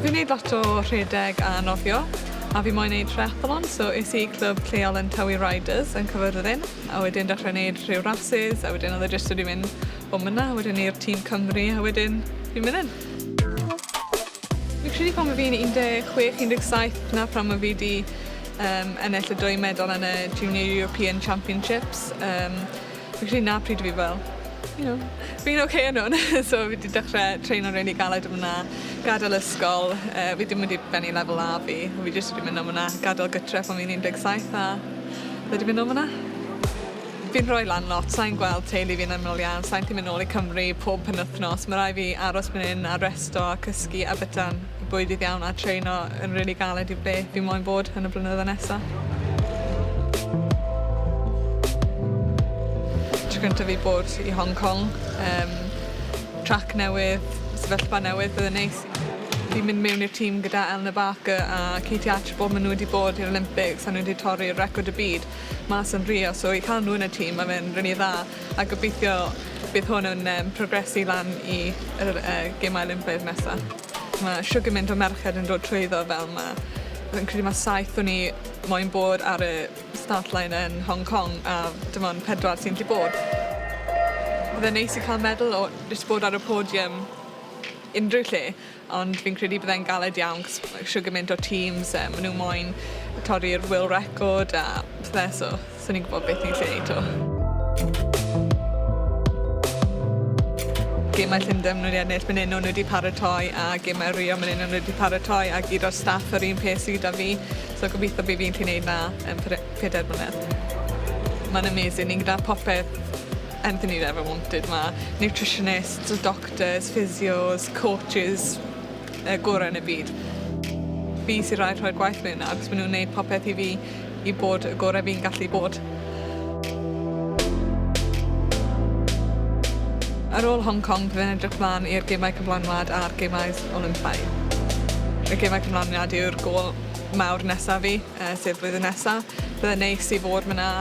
Fi'n neud lot o rhedeg a nofio a fi moyn neud triathlon so es i clwb lleol yn Tywi Riders yn Cyfyrddin a wedyn dechrau neud rhyw rhasys a wedyn oedd e jyst wedi mynd o myn 'na wedyn i'r tîm Cymru a wedyn fi'n myn 'yn. Fi'n credu pan o fi'n 16, 17 'na phan o fi 'di yym ennill y dwy medal yn y Junior European Championships yym fi'n credu 'na pryd o fi fel you know fi'n ok yn hwn so fi 'di dechre treino'n rili galed yn fyna, gadel ysgol yy fi dim wedi bennu lefel A fi a fi jyst wedi myn' am wnna, gadel gytre pan fi'n 17 a wedi myn' nôl fyna. Fi'n rhoi lan lot, sai'n gweld teulu fi'n aml iawn, sai'n gallu mynd nôl i Cymru pob penwythnos, ma' rai' fi aros myn 'yn a resto a cysgu a byta'n bwydydd iawn a traino yn rili galed i ble fi moyn bod yn y blynyddoedd nesa. Tro cynta fi bod i Hong Kong, yym trac newydd, sefyllfa newydd, bydd yn neis i mynd mewn i'r tîm gyda Eleanor Barker a Katie Archibald ma' n'w wedi bod i'r Olympics a n'w wedi torri record y byd. mas yn Rio so i ca'l nhw yn y tîm ma' fe'n rili dda a gobeithio bydd hwn yn yym progresu lan i yr yy Gemau Olympaidd nesa. Ma' shwd gymint o merched yn dod trwyddo fel 'ma. Fi'n credu ma' saith o ni moyn bod ar y start line yn Hong Kong a dim ond pedwar sy'n 'llu bod. Bydde'n neis i ca'l medal o jyst bod ar y podium unrhyw lle. Ond fi'n credu byddai'n galed iawn 'c'os ma' isio gymint o teams a ma' nw moyn torri'r world record a pethe so swn i'n gwbod beth fi'n gallu neud 'to. Gemau Llundain ma' nw 'di ennill myn 'yn o'n nw 'di paratoi a gemau Rio myn 'yn o'n nw 'di paratoi a gyd o'r staff yr un peth sy gyda fi so gobitho by' fi'n gallu neud 'na yn pere- peder mlynedd. Ma'n amazing ni gyda popeth anything you'd ever wanted ma' nutritionists, doctors Doctors, physios, coaches y gore yn y byd. Fi sydd rhaid rhoi'r gwaith mewn achos maen nhw'n neud popeth i fi i bod y gore fi'n gallu bod. Ar ôl Hong Kong bydd yn edrych mlaen i'r Gemau Cyflanwad a'r Gemau Olympaidd. Y Gemau Cyflanwad yw'r gol mawr nesaf fi, sef flwyddyn nesa. Byddai'n neis i fod fanna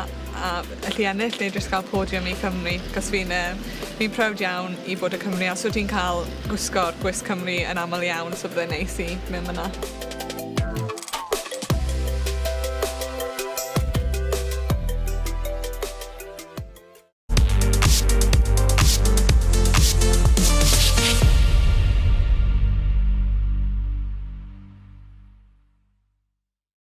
A allu ennill neu jyst cael podium i Cymru, cos fi'n yy fi'n proud iawn i fod o Cymru a so ti'n cael gwisgo'r gwisg Cymru yn aml iawn so bydde'n neis i mynd myna.